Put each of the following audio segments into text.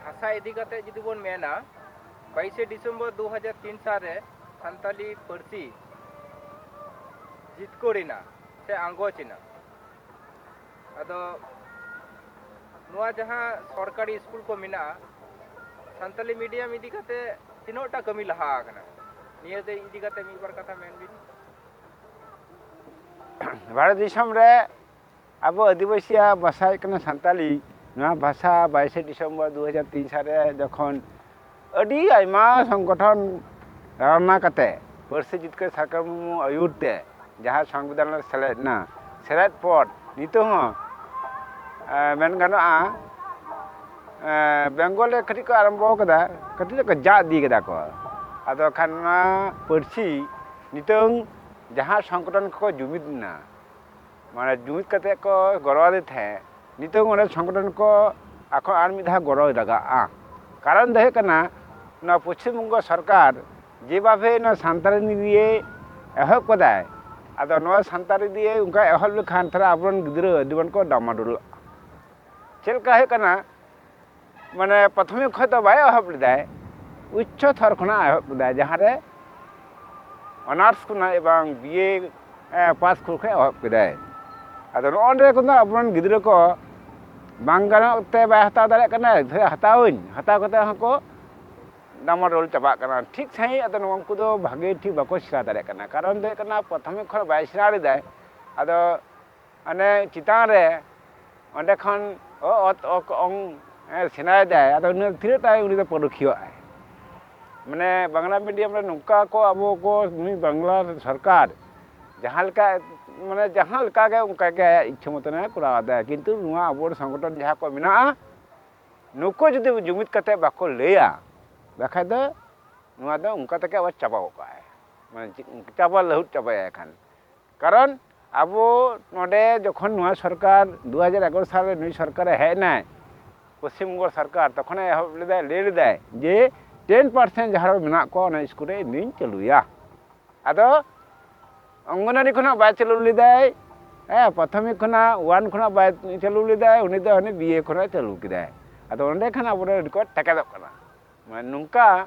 ᱵᱷᱟᱥᱟ ᱤᱫᱤ ᱠᱟᱛᱮ ᱡᱩᱫᱤ ᱵᱚᱱ ᱢᱮᱱᱟ ᱵᱟᱭᱤᱥᱮ ᱰᱤᱥᱮᱢᱵᱚᱨ ᱫᱩ ᱦᱟᱡᱟᱨ ᱛᱤᱱ ᱥᱟᱞ ᱨᱮ ᱥᱟᱱᱛᱟᱞᱤ ᱯᱟᱹᱨᱥᱤ ᱡᱤᱛᱠᱟᱹᱨ ᱮᱱᱟ ᱥᱮ ᱟᱸᱜᱚᱪ ᱮᱱᱟ ᱟᱫᱚ ᱱᱚᱣᱟ ᱡᱟᱦᱟᱸ ᱥᱚᱨᱠᱟᱨᱤ ᱥᱠᱩᱞ ᱠᱚ ᱢᱮᱱᱟᱜᱼᱟ ᱥᱟᱱᱛᱟᱞᱤ ᱢᱤᱰᱤᱭᱟᱢ ᱤᱫᱤ ᱠᱟᱛᱮ ᱛᱤᱱᱟᱹᱜ ᱴᱟ ᱠᱟᱹᱢᱤ ᱞᱟᱦᱟ ᱟᱠᱟᱱᱟ ᱱᱤᱭᱟᱹ ᱫᱚ ᱤᱫᱤ ᱠᱟᱛᱮ ᱢᱤᱫ ᱵᱟᱨ ᱠᱟᱛᱷᱟ ᱢᱮᱱ ᱵᱤᱱ ᱵᱷᱟᱨᱚᱛ ᱫᱤᱥᱚᱢ ᱨᱮ ᱟᱵᱚ ᱟᱹᱫᱤᱵᱟᱹᱥᱤᱭᱟᱜ ᱵᱷᱟᱥᱟ ᱦᱩᱭᱩᱜ ᱠᱟᱱᱟ ᱥᱟᱱᱛᱟᱞᱤ ᱱᱚᱣᱟ ᱵᱷᱟᱥᱟ ᱵᱟᱭᱤᱥᱮ ᱰᱤᱥᱮᱢᱵᱚᱨ ᱫᱩ ᱦᱟᱡᱟᱨ ᱛᱤᱱ ᱥᱟᱞ ᱨᱮ ᱡᱚᱠᱷᱚᱱ ᱟᱹᱰᱤ ᱟᱭᱢᱟ ᱥᱚᱝᱜᱚᱴᱷᱚᱱ ᱨᱟᱣᱱᱟ ᱠᱟᱛᱮ ᱯᱟᱹᱨᱥᱤ ᱡᱤᱛᱠᱟᱹᱨ ᱥᱟᱨᱠᱟᱨ ᱢᱩᱨᱢᱩ ᱟᱹᱭᱩᱨ ᱛᱮ ᱡᱟᱦᱟᱸ ᱥᱚᱝᱵᱤᱫᱷᱟᱱ ᱨᱮ ᱥᱮᱞᱮᱫ ᱮᱱᱟ ᱥᱮᱞᱮᱫ ᱯᱚᱨ ᱱᱤᱛᱚᱜ ᱦᱚᱸ ᱢᱮᱱ ᱜᱟᱱᱚᱜᱼᱟ ᱵᱮᱝᱜᱚᱞ ᱨᱮ ᱠᱟᱹᱴᱤᱡ ᱠᱚ ᱟᱨᱟᱢᱵᱚ ᱠᱟᱫᱟ ᱠᱟᱹᱴᱤᱡ ᱫᱚᱠᱚ ᱡᱟ ᱤᱫᱤ ᱠᱟᱫᱟ ᱠᱚ ᱟᱫᱚ ᱠᱷᱟᱱ ᱱᱚᱣᱟ ᱯᱟᱹᱨᱥᱤ ᱱᱤᱛᱚᱝ ᱡᱟᱦᱟᱸ ᱥᱚᱝᱜᱚᱴᱷᱚᱱ ᱠᱚᱠᱚ ᱡᱩᱢᱤᱫ ᱮᱱᱟ ᱢᱟᱱᱮ ᱡᱩᱢᱤᱫ ᱠᱟᱛᱮ ᱠᱚ ᱜᱚᱲᱚᱣᱟᱫᱮ ᱛᱟᱦᱮᱸᱫ ᱱᱤᱛᱚᱝ ᱚᱱᱟ ᱥᱚᱝᱜᱚᱴᱷᱚᱱ ᱠᱚ ᱟᱠᱚ ᱟᱨ ᱢᱤᱫ ᱫᱷᱟᱣ ᱜᱚᱲᱚᱭ ᱞᱟᱜᱟᱜᱼᱟ ᱠᱟᱨᱚᱱ ᱫᱚ ᱦᱩᱭᱩᱜ ᱠᱟᱱᱟ ᱱᱚᱣᱟ ᱯᱚᱪᱷᱤᱢ ᱵᱚᱝᱜᱚ ᱥᱚᱨᱠᱟᱨ ᱡᱮᱵᱷᱟᱵᱮ ᱱᱚᱣᱟ ᱥᱟᱱᱛᱟᱲᱤ ᱱᱤᱭᱮ ᱮᱦᱚᱵ ᱠᱟᱫᱟᱭ ᱟᱫᱚ ᱱᱚᱣᱟ ᱥᱟᱱᱛᱟᱲᱤ ᱫᱤᱭᱮ ᱚᱱᱠᱟ ᱮᱦᱚᱵ ᱞᱮᱠᱷᱟᱱ ᱛᱟᱦᱚᱞᱮ ᱟᱵᱚᱨᱮᱱ ᱜᱤᱫᱽᱨᱟᱹ ᱟᱹᱰᱤ ᱜᱟᱱ ᱠᱚ ᱰᱟᱢᱟᱰᱳᱞᱚᱜᱼᱟ ᱪᱮᱫ ᱞᱮᱠᱟ ᱦᱩᱭᱩᱜ ᱠᱟᱱᱟ ᱢᱟᱱᱮ ᱯᱨᱟᱛᱷᱚᱢᱤᱠ ᱠᱷᱚᱱ ᱫᱚ ᱵᱟᱭ ᱮᱦᱚᱵ ᱞᱮᱫᱟᱭ ᱩᱪᱪᱚ ᱛᱷᱚᱨ ᱠᱷᱚᱱᱟᱜ ᱮᱦᱚᱵ ᱞᱮᱫᱟᱭ ᱡᱟᱦᱟᱸᱨᱮ ᱚᱱᱟᱨᱥ ᱠᱷᱚᱱᱟᱜ ᱮᱵᱚᱝ ᱵᱤᱭᱮ ᱯᱟᱥ ᱠᱷᱚᱱ ᱮᱦᱚᱵ ᱠᱮᱫᱟᱭ ᱟᱫᱚ ᱱᱚᱜᱼᱚ ᱱᱚᱰᱮ ᱠᱷᱚᱱ ᱫᱚ ᱟᱵᱚᱨᱮᱱ ᱜᱤᱫᱽᱨᱟᱹ ᱠᱚ ᱵᱟᱝ ᱜᱟᱱᱚᱜ ᱛᱮ ᱵᱟᱭ ᱦᱟᱛᱟᱣ ᱫᱟᱲᱮᱭᱟᱜ ᱠᱟᱱᱟᱭ ᱛᱟᱦᱞᱮ ᱦᱟᱛᱟᱣᱟᱹᱧ ᱦᱟᱛᱟᱣ ᱠᱟᱛᱮ ᱦᱚᱸᱠᱚ ᱰᱟᱢᱟᱰᱳᱞ ᱪᱟᱵᱟᱜ ᱠᱟᱱᱟ ᱴᱷᱤᱠ ᱥᱟᱺᱦᱤᱡ ᱟᱫᱚ ᱩᱱᱠᱩ ᱫᱚ ᱵᱷᱟᱜᱮ ᱴᱷᱤᱠ ᱵᱟᱠᱚ ᱥᱮᱬᱟ ᱫᱟᱲᱮᱭᱟᱜ ᱠᱟᱱᱟ ᱠᱟᱨᱚᱱ ᱫᱚ ᱦᱩᱭᱩᱜ ᱠᱟᱱᱟ ᱯᱨᱟᱛᱷᱚᱢᱤᱠ ᱠᱷᱚᱱ ᱵᱟᱭ ᱥᱮᱬᱟ ᱞᱮᱫᱟᱭ ᱟᱫᱚ ᱚᱱᱮ ᱪᱮᱛᱟᱱ ᱨᱮ ᱚᱸᱰᱮ ᱠᱷᱚᱱ ᱚᱛ ᱚᱠ ᱚᱝ ᱥᱮᱬᱟᱭᱮᱫᱟᱭ ᱟᱫᱚ ᱩᱱᱤ ᱛᱤᱱᱟᱹᱜ ᱴᱟᱭ ᱩᱱᱤ ᱫᱚ ᱯᱟᱹᱨᱩᱠᱷᱤᱭᱟᱹᱜ ᱟᱭ ᱢᱟᱱᱮ ᱵᱟᱝᱞᱟ ᱢᱤᱰᱤᱭᱟᱢ ᱨᱮ ᱱᱚᱝᱠᱟ ᱠᱚ ᱟᱵᱚ ᱠᱚ ᱱᱩᱭ ᱵᱟᱝᱞᱟ ᱥᱚᱨᱠᱟᱨ ᱡᱟᱦᱟᱸ ᱞᱮᱠᱟ ᱢᱟᱱᱮ ᱡᱟᱦᱟᱸ ᱞᱮᱠᱟ ᱜᱮ ᱚᱱᱠᱟ ᱜᱮ ᱟᱭᱟᱜ ᱤᱪᱪᱷᱟᱹ ᱢᱚᱛᱚᱱᱮ ᱠᱚᱨᱟᱣ ᱮᱫᱟ ᱠᱤᱱᱛᱩ ᱱᱚᱣᱟ ᱟᱵᱚ ᱥᱚᱝᱜᱚᱴᱷᱚᱱ ᱡᱟᱦᱟᱸ ᱠᱚ ᱢᱮᱱᱟᱜᱼᱟ ᱱᱩᱠᱩ ᱡᱩᱫᱤ ᱡᱩᱢᱤᱫ ᱠᱟᱛᱮ ᱵᱟᱠᱚ ᱞᱟᱹᱭᱟ ᱵᱟᱠᱷᱟᱡ ᱫᱚ ᱱᱚᱣᱟ ᱫᱚ ᱚᱱᱠᱟ ᱛᱮᱜᱮ ᱟᱵᱟᱨ ᱪᱟᱵᱟ ᱜᱚᱫ ᱠᱟᱜᱼᱟᱭ ᱢᱟᱱᱮ ᱪᱟᱵᱟ ᱞᱟᱹᱦᱩᱫ ᱪᱟᱵᱟᱭᱟᱭ ᱠᱷᱟᱱ ᱠᱟᱨᱚᱱ ᱟᱵᱚ ᱱᱚᱰᱮ ᱡᱚᱠᱷᱚᱱ ᱱᱚᱣᱟ ᱥᱚᱨᱠᱟᱨ ᱫᱩ ᱦᱟᱡᱟᱨ ᱮᱜᱟᱨᱚ ᱥᱟᱞᱨᱮ ᱱᱩᱭ ᱥᱚᱨᱠᱟᱨᱮ ᱦᱮᱡ ᱮᱱᱟᱭ ᱯᱚᱥᱪᱤᱢ ᱵᱚᱝᱜᱚ ᱥᱚᱨᱠᱟᱨ ᱛᱚᱠᱷᱚᱱᱮ ᱮᱦᱚᱵ ᱞᱮᱫᱟᱭ ᱞᱟᱹᱭ ᱞᱮᱫᱟᱭ ᱡᱮ ᱴᱮᱱ ᱯᱟᱨᱥᱮᱱ ᱡᱟᱦᱟᱸ ᱢᱮᱱᱟᱜ ᱠᱚᱣᱟ ᱚᱱᱟ ᱥᱠᱩᱞ ᱨᱮ ᱤᱧ ᱫᱩᱧ ᱪᱟᱹᱞᱩᱭᱟ ᱟᱫᱚ ᱚᱝᱜᱚᱱᱣᱟᱲᱤ ᱠᱷᱚᱱᱟᱜ ᱵᱟᱭ ᱪᱟᱹᱞᱩ ᱞᱮᱫᱟᱭ ᱦᱮᱸ ᱯᱨᱟᱛᱷᱚᱢᱤᱠ ᱠᱷᱚᱱᱟᱜ ᱳᱣᱟᱱ ᱠᱷᱚᱱᱟᱜ ᱵᱟᱭ ᱪᱟᱹᱞᱩ ᱞᱮᱫᱟᱭ ᱩᱱᱤ ᱫᱚ ᱦᱟᱱᱮ ᱵᱤᱭᱮ ᱠᱷᱚᱱᱟᱜ ᱪᱟᱹᱞᱩ ᱠᱮᱫᱟᱭ ᱟᱫᱚ ᱚᱸᱰᱮ ᱠᱷᱟᱱ ᱟᱵᱚᱨᱮᱱ ᱠᱚ ᱴᱮᱠᱮᱫᱚᱜ ᱠᱟᱱᱟ ᱢᱟᱱᱮ ᱱᱚᱝᱠᱟ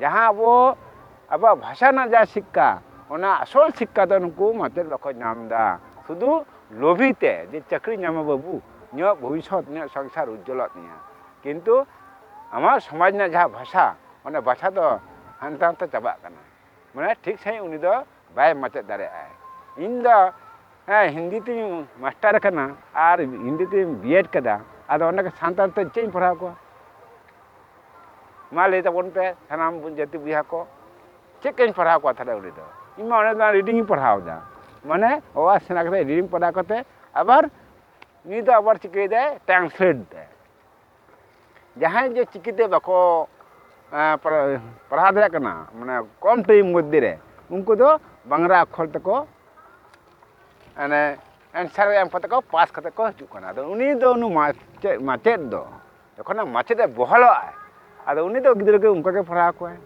ᱡᱟᱦᱟᱸ ᱟᱵᱚ ᱟᱵᱚᱣᱟᱜ ᱵᱷᱟᱥᱟ ᱨᱮᱱᱟᱜ ᱡᱟᱦᱟᱸ ᱥᱤᱠᱠᱷᱟ ᱚᱱᱟ ᱟᱥᱚᱞ ᱥᱤᱠᱠᱷᱟ ᱫᱚ ᱱᱩᱠᱩ ᱢᱟᱪᱮᱫ ᱵᱟᱠᱚ ᱧᱟᱢ ᱮᱫᱟ ᱥᱩᱫᱷᱩ ᱞᱳᱵᱷᱤ ᱛᱮ ᱡᱮ ᱪᱟᱹᱠᱨᱤ ᱧᱟᱢᱟ ᱵᱟᱹᱵᱩ ᱤᱧᱟᱹᱜ ᱵᱷᱚᱵᱤᱥᱥᱚᱛ ᱤᱧᱟᱹᱜ ᱥᱚᱝᱥᱟᱨ ᱩᱡᱽᱡᱚᱞᱚᱜ ᱛᱤᱧᱟ ᱠᱤᱱᱛᱩ ᱟᱢᱟᱜ ᱥᱚᱢᱟᱡᱽ ᱨᱮᱱᱟᱜ ᱡᱟᱦᱟᱸ ᱵᱷᱟᱥᱟ ᱚᱱᱟ ᱵᱷᱟᱥᱟ ᱫᱚ ᱦᱟᱱᱛᱮ ᱱᱟᱛᱮ ᱪᱟᱵᱟᱜ ᱠᱟᱱᱟ ᱢᱟᱱᱮ ᱴᱷᱤᱠ ᱥᱟᱺᱦᱤᱡ ᱩᱱᱤ ᱫᱚ ᱵᱟᱭ ᱢᱟᱪᱮᱫ ᱫᱟᱲᱮᱭᱟᱜᱼᱟᱭ ᱤᱧ ᱫᱚ ᱦᱮᱸ ᱦᱤᱱᱫᱤ ᱛᱤᱧ ᱢᱟᱥᱴᱟᱨ ᱟᱠᱟᱱᱟ ᱟᱨ ᱦᱤᱱᱫᱤ ᱛᱤᱧ ᱵᱤᱭᱮᱰ ᱠᱟᱫᱟ ᱟᱫᱚ ᱚᱸᱰᱮ ᱥᱟᱱᱛᱟᱲ ᱛᱮ ᱪᱮᱫ ᱤᱧ ᱯᱟᱲᱦᱟᱣ ᱠᱚᱣᱟ ᱢᱟ ᱞᱟᱹᱭ ᱛᱟᱵᱚᱱ ᱯᱮ ᱥᱟᱱᱟᱢ ᱡᱟᱹᱛᱤ ᱵᱚᱭᱦᱟ ᱠᱚ ᱪᱮᱫ ᱠᱟᱹᱧ ᱯᱟᱲᱦᱟᱣ ᱠᱚᱣᱟ ᱛᱟᱦᱞᱮ ᱩᱱᱤ ᱫᱚ ᱤᱧ ᱢᱟ ᱚᱸᱰᱮ ᱫᱚ ᱨᱤᱰᱤᱝ ᱤᱧ ᱯᱟᱲᱦᱟᱣ ᱮᱫᱟ ᱢᱟᱱᱮ ᱚ ᱟ ᱥᱮᱬᱟ ᱠᱟᱛᱮ ᱨᱤᱰᱤᱝ ᱯᱟᱲᱦᱟᱣ ᱠᱟᱛᱮ ᱟᱵᱟᱨ ᱱᱩᱭ ᱫᱚ ᱟᱵᱟᱨ ᱪᱤᱠᱟᱹᱭᱮᱫᱟᱭ ᱴᱨᱟᱱᱥᱞᱮᱴ ᱮᱫᱟᱭ ᱡᱟᱦᱟᱸᱭ ᱡᱮ ᱪᱤᱠᱤ ᱛᱮ ᱵᱟᱠᱚ ᱯᱟᱲᱦᱟᱣ ᱫᱟᱲᱮᱭᱟᱜ ᱠᱟᱱᱟ ᱢᱟᱱᱮ ᱠᱚᱢ ᱴᱟᱭᱤᱢ ᱢᱚᱫᱽᱫᱷᱮ ᱨᱮ ᱩᱱᱠᱩ ᱫᱚ ᱵᱟᱝᱞᱟ ᱟᱠᱷᱚᱨ ᱛᱮᱠᱚ ᱢᱟᱱᱮ ᱮᱱᱥᱟᱨ ᱮᱢ ᱠᱟᱛᱮ ᱠᱚ ᱯᱟᱥ ᱠᱟᱛᱮ ᱠᱚ ᱦᱤᱡᱩᱜ ᱠᱟᱱᱟ ᱟᱫᱚ ᱩᱱᱤ ᱫᱚ ᱩᱱᱤ ᱢᱟᱪᱮᱫ ᱢᱟᱪᱮᱫ ᱫᱚ ᱡᱚᱠᱷᱚᱱ ᱢᱟᱪᱮᱫ ᱮ ᱵᱚᱦᱟᱞᱚᱜᱼᱟ ᱟᱫᱚ ᱩᱱᱤ ᱫᱚ ᱜᱤᱫᱽᱨᱟᱹ ᱜᱮ ᱚᱱᱠᱟ ᱜᱮ ᱯᱟᱲᱦᱟᱣ ᱠᱚᱣᱟᱭ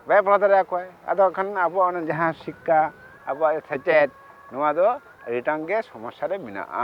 ᱵᱟᱭ ᱯᱟᱲᱦᱟᱣ ᱫᱟᱲᱮ ᱟᱠᱚᱣᱟᱭ ᱟᱫᱚ ᱠᱷᱟᱱ ᱟᱵᱚᱣᱟᱜ ᱚᱱᱟ ᱡᱟᱦᱟᱸ ᱥᱤᱠᱠᱷᱟ ᱟᱵᱚᱣᱟᱜ ᱥᱮᱪᱮᱫ ᱱᱚᱣᱟ ᱫᱚ ᱟᱹᱰᱤᱴᱟᱝ ᱜᱮ ᱥᱚᱢᱚᱥᱥᱟ ᱨᱮ ᱢᱮᱱᱟᱜᱼᱟ